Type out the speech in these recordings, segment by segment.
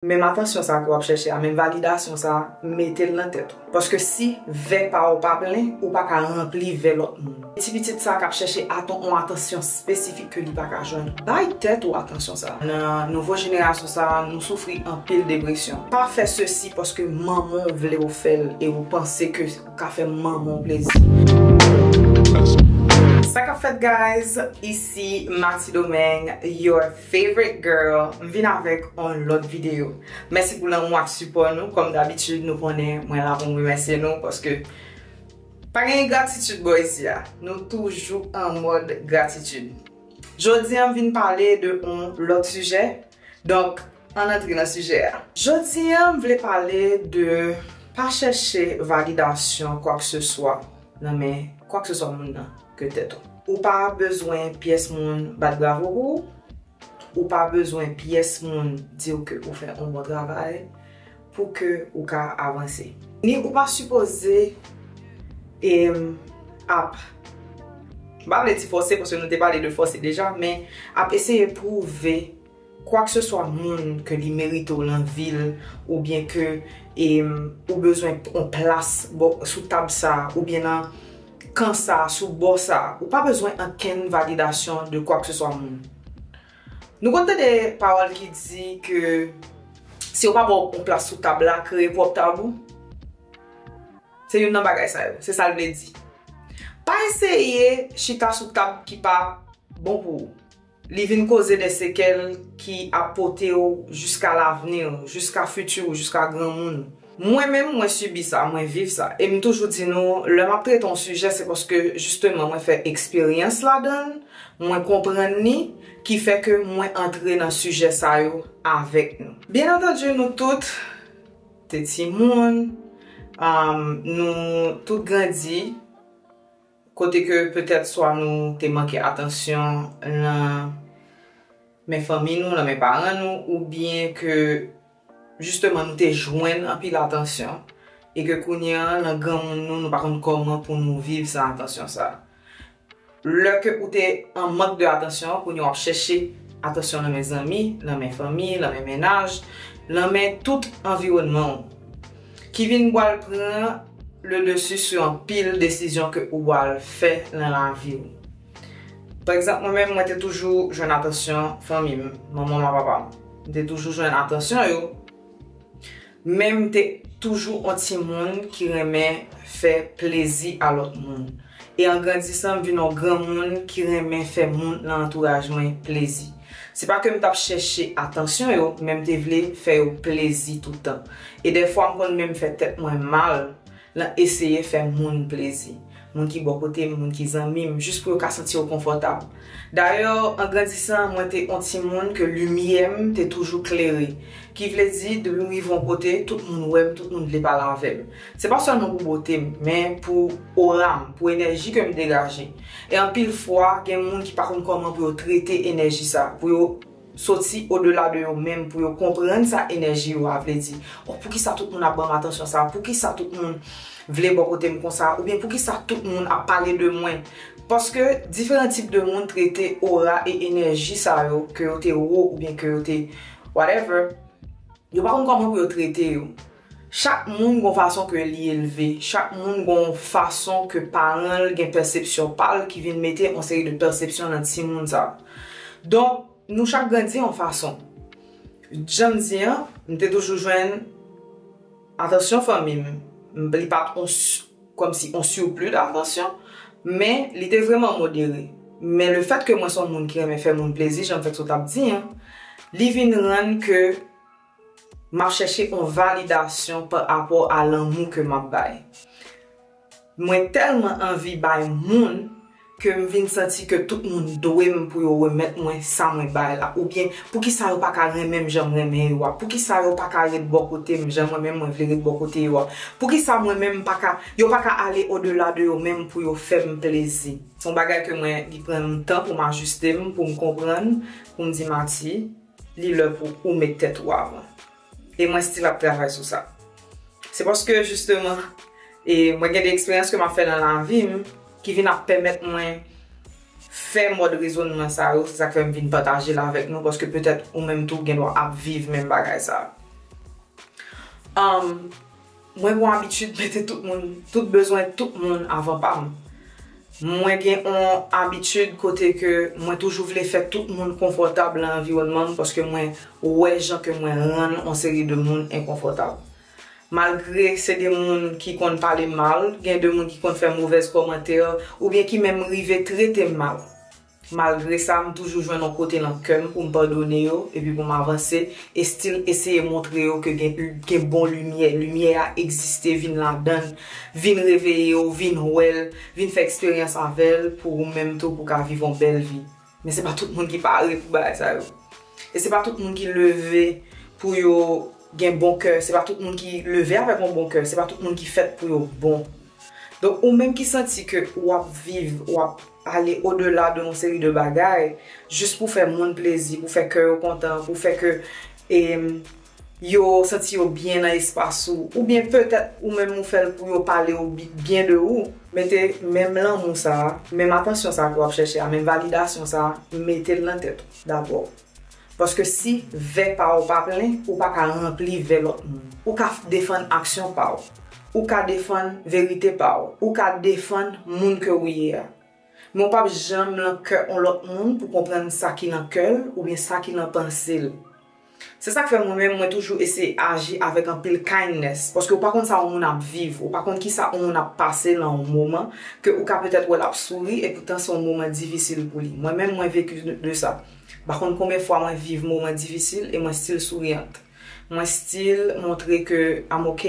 Menm atansyon sa ke wap chèche a, menm validasyon sa, metel nan tèt ou. Paske si vè pa ou pa plen, ou pa ka ranpli vè lòt moun. Ti pitit sa kap chèche aton on atansyon spesifik ke li pa ka jwenn, bay tèt ou atansyon sa. Nan nouvo jenerasyon sa, nou soufri anpil depresyon. Pa fè sesi paske manman w vle ou fèl e ou panse ke ou ka fè manman w plezi. Sa kap fèt guys? Isi Matidomeng, your. Favorite girl m vin avèk on lòt video mèsi pou lanmou ak sipò nou kòm dabitid nou konnen mwen la pou m remèsye nou paske pa gen ingratitid bò isi a nou toujou an mòd gratitid jodi an m vin pale de on lòt sijè donk ann antre nan sijè a jodi an m vle pale de pa chèche validasyon kwakseswa. nan men kwakseswa moun nan ke tèt ou. Ou pa bezwen pyès moun bat bravo pou ou, ou pa bezwen pyès moun di ou ke ou fè yon bon travay pou ke ou ka avanse. Ni ou pa sipoze ap, m pa vle di fòse paske nou te pale de fòse deja, men ap eseye pwouve. Kwakseswa moun ke li merite w lan vi l oubyen ke ou bezwen on plas bò sou tab sa a oubyen nan kan sa a sou bò sa a, ou pa bezwen ankenn validasyon de kwakseswa moun. Nou konn tande pawòl ki di ke si yo pa ba w on plas sou tab la, kreye pwòp tab ou. Se youn nan bagay sa yo, se sa l vle di. Pa eseye chita sou tab ki pa bon pou ou. Li vin koze de sekèl ki ap pote w jiska lavni w, jiska fiti w, jiska granmoun ou. Mwen menm, mwen sibi sa, mwen viv sa. E m toujou di nou, lè m ap trete yon sijè, se paske jisteman mwen fè eksperyans ladan l, mwen konprann li, ki fè ke mwen antre nan sijè sa yo avèk nou. Byen antandi nou tout te timoun, nou tout grandi. Kote ke petèt swa nou te manke atansyon lan men fanmi nou, lan men paran nou, ou byen ke jisteman nou te jwenn anpil atansyon e ke kounye an lan granmoun nou, nou pa konn kòman pou nou viv san atansyon sa. Lè ke ou te an mank de atansyon, kounye w ap chèche atansyon lan men zanmi, lan men fanmi, lan men mennaj, lan men tout anviwònman w. Ki vin bwal pran le dessus sou anpil desizyon ke ou bwal fè nan lavi ou. Pa egzanp mwen menm mwen te toujou jwenn atansyon fanmi m, manman m a papa m. M te toujou jwenn atansyon yo, men m te toujou yon timoun ki renmen fè plezi a lòt moun. E an grandisan m vin yon granmoun ki renmen fè moun nan antouraj mwen plezi. Se pa ke m t ap chèche atansyon yo, men m te vle fè yo plezi toutan. E dèfwa m konn menm fè tèt mwen mal nan eseye fè moun plezi. Moun ki bò kote m, moun ki zanmi m, jis pou yo ka santi yo konfòtab. Dayè, an grandisan, mwen te on timoun ke limyè m te toujou klere. Ki vle di, depi m rive on kote, tout moun wè m, tout moun vle pale avè m. Se pa sèlman pou bote m, men pou ora m, pou enèji ke m degaje. E anpil fwa, gen moun ki pa konn kòman pou yo trete enèji sa, pou yo soti odela de yo menm, pou yo konprann sa enèji yo a vle di. Oh, poukisa tout moun ap ban m atansyon sa? Poukisa tout moun vle bò kote m konsa? Oubyen poukisa tout moun ap pale de mwen? Paske diferan tip de moun trete ora e enèji sa yo, ke yo te wo oubyen ke yo te whatever, yo pa konn kòman pou yo trete yo. Chak moun gon fason ke li elve, chak moun gon fason ke paran l gen pèsepsyon pa l ki vin mete on seri de pèsepsyon nan timoun sa. Donk, nou chak grandi on fason. Jan m di an, m te toujou jwenn atansyon fanmi m, li pa t on kòm si on surplus d'attention, men li te vrèman modere. Men le fèt ke mwen s on moun ki renmen fè moun plezi, jan m fèk sot ap di an, li vin rann ke. Map chèche on validasyon pa rapò a lanmou ke map bay. Mwen tèlman anvi bay moun ke m vin santi ke tout moun dwe m pou yo remèt mwen sa mwen bay la oubyen poukisa yo pa ka renmen m jan m renmen yo a, poukisa yo pa ka ret bò kote m jan mwen menm mwen vle ret bò kote yo a, poukisa mwen menm m pa ka, yo pa ka ale o dela de yo menm pou yo fè m plezi. Se on bagay ke mwen, li pran m tan pou m ajiste m, pou m konprann, pou m di Mati. Li lè pou ou met tèt ou avan. E mwen still ap travay sou sa. Se paske jisteman e mwen gen de eksperyans ke m ap fè nan lavi m ki vin ap pèmèt mwen fè mòd rezonman sa yo. Se sa k fè m vin pataje l avèk nou paske petèt ou menm tou gen dwa ap viv menm bagay sa. Mwen gon abitid mete tout moun, tout bezwen tout moun avan pa m. Mwen gen yon abitid kote ke mwen toujou vle fè tout moun konfòtab lan anviwònman m paske mwen wè jan ke mwen rann yon seri de moun enkonfòtab. Malgre se de moun ki konn pale m mal, gen de moun ki konn fè movèz kòmantè oubyen ki menm rive trete m mal. Malgre sa, m toujou jwenn yon kote nan kè m pou m padone yo epi pou m avanse, e stil eseye montre yo ke gen gen bon limyè, limyè a egziste vin ladan l, vin reveye w, vin wè l, vin fè eksperyans avè l pou ou menm tou pou w ka viv yon bèl vi. Men se pa tout moun ki pare pou bagay sa yo. E se pa tout moun ki leve pou yo gen bon kè, se pa tout moun ki leve avèk yon bon kè, se pa tout moun ki fèt pou yo bon. Donk ou menm ki santi ke ou ap viv, ou ap. ale odela de yon seri de bagay jis pou fè moun plezi, pou fè kè yo kontan, pou fè ke yo santi yo byen nan espas ou, oubyen petèt ou menm ou fèl pou yo pale yo byen de ou. Mete menm lanmou sa, menm atansyon sa ke wap chèche a, menm validasyon sa, metel nan tèt ou dabò. Paske si vè pa w pa plen, ou pa ka ranpli vè lòt moun. Ou ka defann aksyon pa w. Ou ka defann verite pa w. Ou ka defann moun ke ou ye a. Men w pap janm lan kè on lòt moun pou konprann sa ki lan kè l oubyen sa ki lan panse l. Se sa k fè mwen menm mwen toujou eseye aji avèk anpil kindness paske ou pa konn sa on moun ap viv, ou pa konn kisa on moun ap pase lan on moman ke ou ka petèt wè l ap souri epoutan se on moman difisil pou li. Mwen menm mwen vecu de sa. M pa konn konben fwa mwen viv moman difisil e mwen still souriant. Mwen still montre ke I'm ok.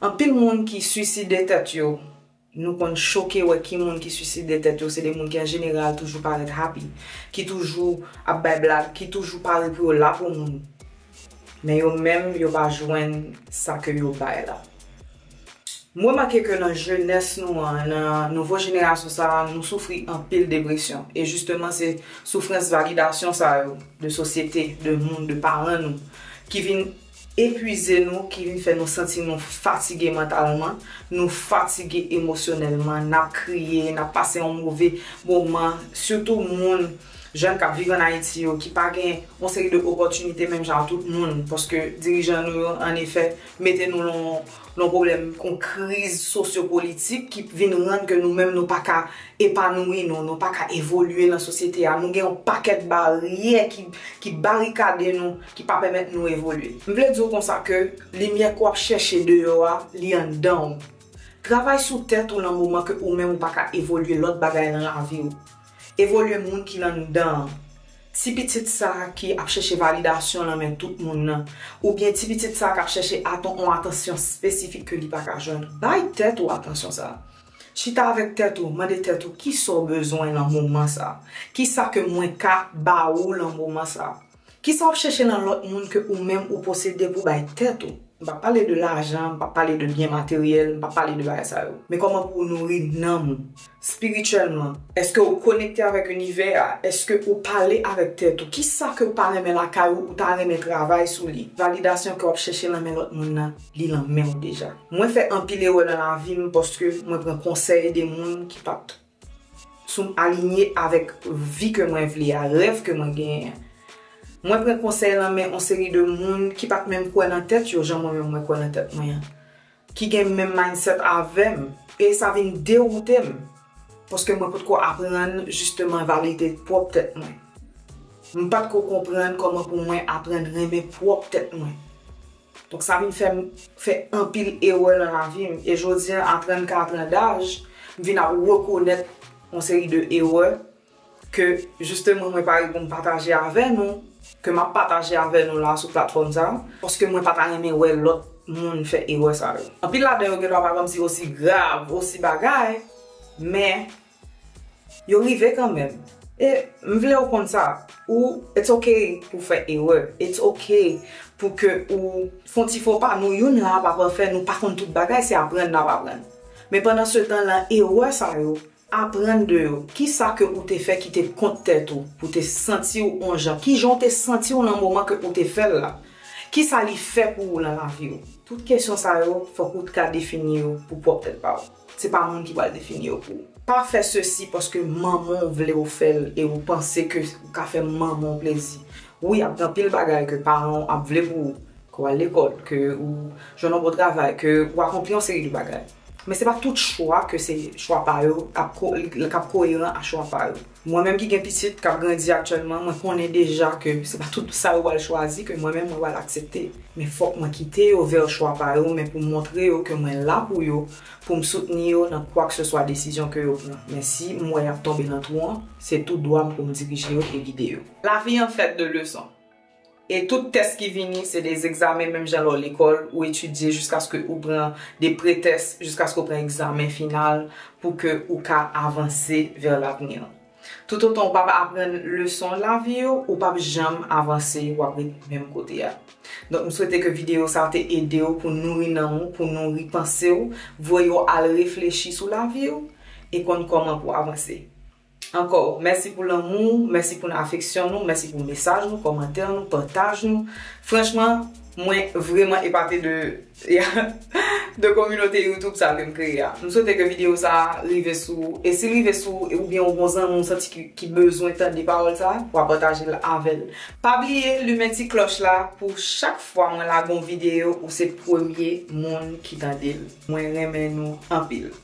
Anpil moun ki suicide tèt yo, nou konn choke wè ki moun ki suicide tèt yo se de moun ki an jeneral toujou parèt happy, ki toujou ap bay blag, ki toujou pare pou yo la pou moun. Men yo menm yo pa jwenn sa ke yo bay la. M remake ke nan jenès nou an, nan nouvo jenerasyon sa a, nou soufri anpil depresyon. E jisteman se soufrans validasyon sa yo, de sosyete, de moun, de paran nou, ki vin epwize nou, ki vin fè nou santi nou fatige mantalman, nou fatige emosyonèlman, n ap kriye, n ap pase yon move moman, sitou moun, jèn k ap viv ann Ayiti yo, ki pa gen yon seri de opòtinite menm jan ak tout moun, paske dirijan nou yo, an efè, Mete nou lan yon pwoblèm, yon kriz sosyopolitik ki vin rann ke nou menm nou pa ka epanouyi nou, nou pa ka evolye lan sosyete a, nou gen yon pakèt baryè ki barikade nou, ki pa pèmèt nou evolye. M vle di w konsa ke limyè ke w ap chèche deyò a, li anndan w. Travay sou tèt ou lan moman ke ou menm ou pa ka evolye lòt bagay lan lavi w. Evolye moun ki anndan an. Ti pitit sa ki ap chèche validasyon lan men tout moun nan, oubyen ti pitit sa kap chèche aton on atansyon spesifik ke li pa ka jwenn, bay tèt ou atansyon sa. Chita avèk tèt ou, mande tèt ou kisa w bezwen lan moman sa? Kisa ke mwen ka ba ou lan moman sa? Kisa wap chèche nan lòt moun ke ou menm ou posede pou bay tèt ou? M pa pale de lajan, m pa pale de byen materyèl, m pa pale de bagay sa yo. Men kòman pou ou nouri nanm ou, spirityèlman. Eske ou konekte avèk inivè a? Eske ou pale avèk tèt ou? Kisa ke ou pa renmen lakay ou, ou ta renmen travay sou li? Validasyon ke wap chèche nan men lòt moun nan, li nan menw deja. Mwen fè anpil erè nan lavim paske mwen pran konsèy de moun ki pat sou m alinye avèk vi ke mwen vle a, rèv ke mwen genyen an. Mwen pran konsèy lan men on seri de moun ki pat menm kwè nan tèt yo jan mwen menm mwen kwè nan tèt mwen an, ki gen menm mindset avè m, e sa vin dewoute m paske mwen potko aprann jisteman valide pwòp tèt mwen. M pat ko konprann kòman pou mwen aprann renmen pwòp tèt mwen. Donk sa vin fè m fè anpil erè nan lavi m e jodi an a 34 an daj m vin ap rekonèt yon seri de erè ke jisteman mwen pare pou m pataje avè nou, ke m ap pataje avè nou la sou platfòm sa paske mwen pa ta renmen wè lòt moun fè erè sa yo. Anpil ladan yo gendwa pa janm si osi grav, osi bagay men Yo rive kanmenm. E m vle ou konn sa, ou it's ok pou w fè erè, it's ok pou ke ou fon ti fo pa, nou youn la a pa pafè, nou pa konn tout bagay, se aprann n ap aprann. Men pandan se tan lan erè sa yo, aprann de yo, kisa ke ou te fè ki te kont tèt ou, pou te santi w on jan, kijan w te santi w lan moman ke ou te fè l la, kisa li fè pou ou lan lavi w. Tout kesyon sa yo fòk ou t ka defini yo pou pwòp tèt pa w. Se pa moun ki pral defini yo pou ou. Pa fè sesi paske manman w vle w fè l e ou panse ke ou ka fè manman w plezi. Wi ap gen anpil bagay ke paran w ap vle pou ou, ke w al lekòl, ke ou jwenn yon bon travay, ke ou akonpli yon seri de bagay. Men se pa tout chwa ke se chwa pa yo kap koeran a chwa pa yo. Mwen menm ki gen pitit kap grandi aktyèlman mwen konnen deja ke se pa tout sa yo pral chwazi ke mwen menm mwen pral aksepte. Men fòk mwen kite yo vè chwa pa yo men pou montre yo ke mwen la pou yo, poum soutni yo nan kwakseswa desizyon ke yo pran. Men si m wè yap tonbe nan twou an, se tou dwa m poum dirije yo e gide yo. Lavi an fèt de leson. E tout tès ki vini se de egzamen menm jan lè w lekòl, ou etidye jiskaske ou pran de pretès, jiskaske ou pran egzamen final pou ke ou ka avanse vè l'avenir. Toutotan ou pa p aprann leson lavi yo, ou pa p janm avanse, w ap ret menm kote a. Donk m swete ke videyo sa te ede w pou nouri nanm ou, pou nouri panse w, voye w al reflechi sou lavi w e konn kòman pou avanse. Ankò, mèsi pou lanmou ou, mèsi pou afeksyon nou, mèsi pou mesaj nou, kòmantè nou, pataj nou. Franchman, mwen vreman epate de de kominote YouTube sa ke m kreye a. M swete ke videyo sa a rive sou ou. E si l rive sou ou, oubyen yon bon zanmi ou santi ki ki bezwen tande pawòl sa a, wa pataje l avè l. Pa bliye limen ti klòch la pou chak fwa mwen lage yon videyo ou se premye moun ki tande l. Mwen renmen nou anpil.